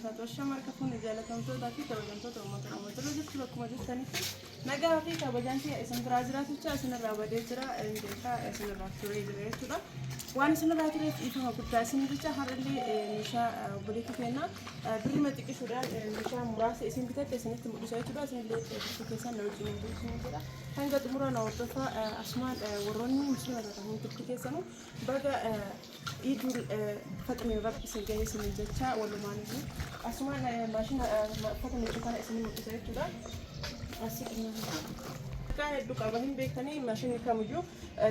Asham harka fuune jaalatamtootaa fi kabajamtoota uummata Oromoo jirra jirtu bakkuma jirtanitti nagaa fi kabajaan kiyya isin biraa jiraaticha isinirraa badee jira hin beekaa isinirraa turee jira jechuudha. Waan isinirraa tureef dhiifama guddaa isin jecha har'allee eh, meeshaa eh, obboleetti keenya eh, birrima xiqqisuudhaan eh, meeshaa muraasa isin bitatte isinitti mul'isa jechuudha. Isinillee eh, bituu keessan na wajjin hin bulchiin jedha. Hanga xumura na hordofaa eh, asumaan eh, warroonni muslima taatan hundumti keessanuu Baga Iidul Faxiriin Rabbi isin gahee isiniin jechaa walumaan iyyuu asumaan maashina uffata miiccu kana isin mul'isa jechuudha. Asii Maqaa hedduu qaba hin beektanii maashinni kamiyyuu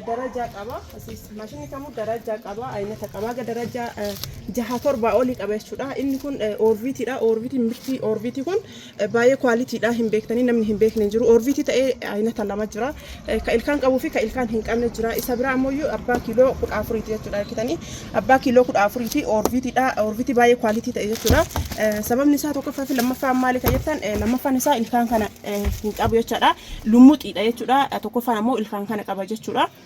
darajaa qaba. Asiis maashinni kamuu darajaa qaba aynata qaba haga darajaa jaha torbaa olii qaba jechuudha. Inni kun oorbiitiidha. Oorbiitiin mirtii oorbiitii kun Baayee quality dha hin beektanii namni hin beekne hin jiru orviti ta'ee aynata lama jira ka ilkaan qabuu fi ka ilkaan hin qabne jira isa biraa ammoo iyyuu abbaa kiiloo kudha afuriiti jechuudha argitanii abbaa kiiloo kudha afuriiti orviti dha orviti baayee quality ta'e jechuudha Eh, sababni isaa tokkoffaa fi lammaffaan maali kan jettan Eh, lammaffaan isaa ilkaan kana eh, hin qabu jechuudha lummuxiidha jechuudha Eh, tokkoffaan ammoo ilkaan kana qaba jechuudha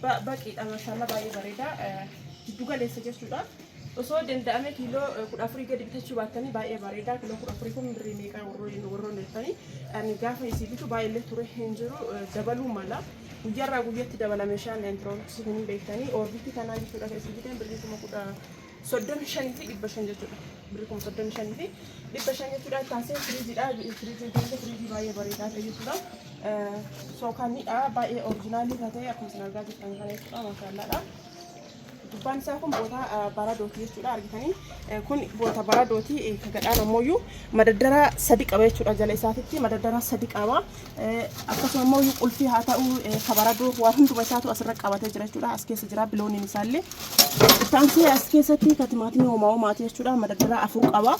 Ba, baqiidha mashaalla baay'ee bareeda jiddu galeessa jechuudha osoo danda'ame kiiloo kudha afurii gadi bitachuu baattanii baay'ee bareeda kiiloo kudha afurii kun birrii meeqa warroon warroon jettanii ani gaafa isii bitu baay'ee illee ture hin jiru eh, dabaluu mala guyyaarraa guyyatti dabala meeshaan intirooksii kun hin beektanii oorbiitti kanaa jechuudha kan isii biteen birrii kuma kudha 35 fi 500 jechuudha. Birri kuma 35 fi 500 jechuudha. Taasee firiijidha. Firiijii keessa firiijii baay'ee bareedaa ta'e jechuudha. Sookanidha. Baay'ee orijinaalii kan ta'e akkuma isin argaa jirtan kana jechuudha. Maashaallaadha. Gubbaan isaa kun boota baradooti jechuudha. Argitanii kun boota baradooti. Gadhaan ammoo madaddara sadi qaba jechuudha. Jala isaatitti madaddara sadi qaba. akkasuma immoo iyyuu qulfii haa ta'u kabaradoo waan hunduma isaatu asirra qabatee jira jechuudha as keessa jira bilooniin isaallee ittaansee as keessatti ka timaatimii homaa homaati jechuudha madadara afur qaba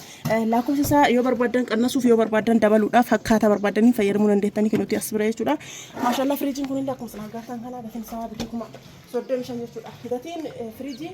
lakkoofsa isaa yoo barbaadan qannasuuf yoo barbaadan dabaluudhaaf akkaataa barbaadanii fayyadamuu dandeettanii kan nuti as bira jechuudha maashaallah firiijiin kun illee akkuma sana agartan kana gatiin isaa bitii kuma soddomi shan jechuudha gatiin firiijii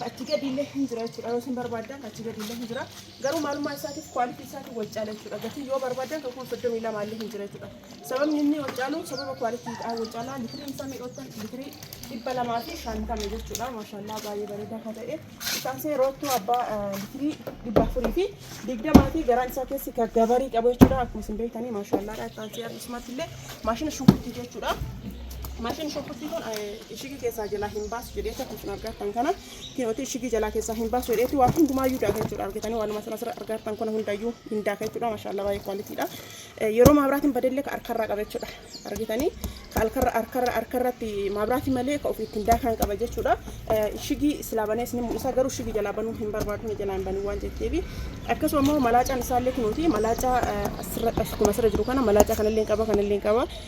achi gadi illee hin jira jechuudha yoo isin barbaadan achi gadi illee hin jira Garuu maalummaa isaatiif quality isaatiin wal caala jechuudha. Gatiin yoo barbaadan kan kuma 32 illee hin jira jechuudha. Sababni inni wal caalu sababa quality dhaan wal caala. Litiriin isaa meeqa jettan? Litirii 250 jechuudha. Maashaallaa baay'ee bareedaa kan ta'e. Isaasee roottuu abbaa eh, litirii 400 fi 20 fi garaan isaa keessi kan gabarii qabu jechuudha. Akkuma isin beektanii maashaallaadha. Isaasee akkasumatti illee maashina shunkurtii jechuudha. Maashina shunkurtii kun eh, ishigii keessaa jalaa hin baasu jedhee tokko isin argattan kana. Kinooti ishigii jalaa keessaa hin baasu jedheetti waa hundumaayyuu daaka jechuudha argitanii waanuma sana sirra argaartan kana hundayyuu hin daaka jechuudha mashaallaa baay'ee kwaalitiidha yeroo maabraatiin badellee ka harkarraa qaba jechuudha argitanii ka harkarra harkarra harkarratti maabraatii malee ka ofii ittiin daakaan qaba jechuudha ishigii silaa banee isin mul'isa garuu ishigii jalaa banuu hin barbaadu ni jalaa hin banuu waan jetteefi akkasuma immoo malaacaan isaallee kunuuti malaacaa asirra akkuma asirra jiru kana malaacaa kanallee hin qaba kanallee hin qaba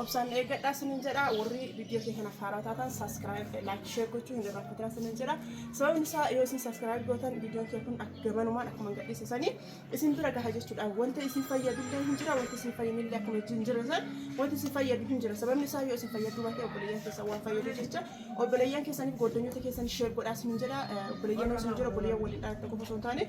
Obsaan eeggadhaa sinin jedha warri viidiyoo kee kanaaf haaraa taatan saskiraayib laayik sheer gochuu hin irraanfatinaa sinin jedha sababni isaa yoo isin saskiraayib gootan viidiyoon kee kun akka gamanumaan akkuma gadhiise sanii isin bira gaha jechuudha wanta isin fayyadullee hin jira wanta isin fayyinillee akkuma hin jira san wanta isin fayyadu hin jira sababni isaa yoo isin fayyaduu baate obboleeyyan keessan waan fayyadu jecha obboleeyyan keessaniif gooddanyoota keessan sheer godhaa sinin jedha obboleeyyan osoo hin jira obboleeyyan waliin dhaalatta qofa osoo hin taane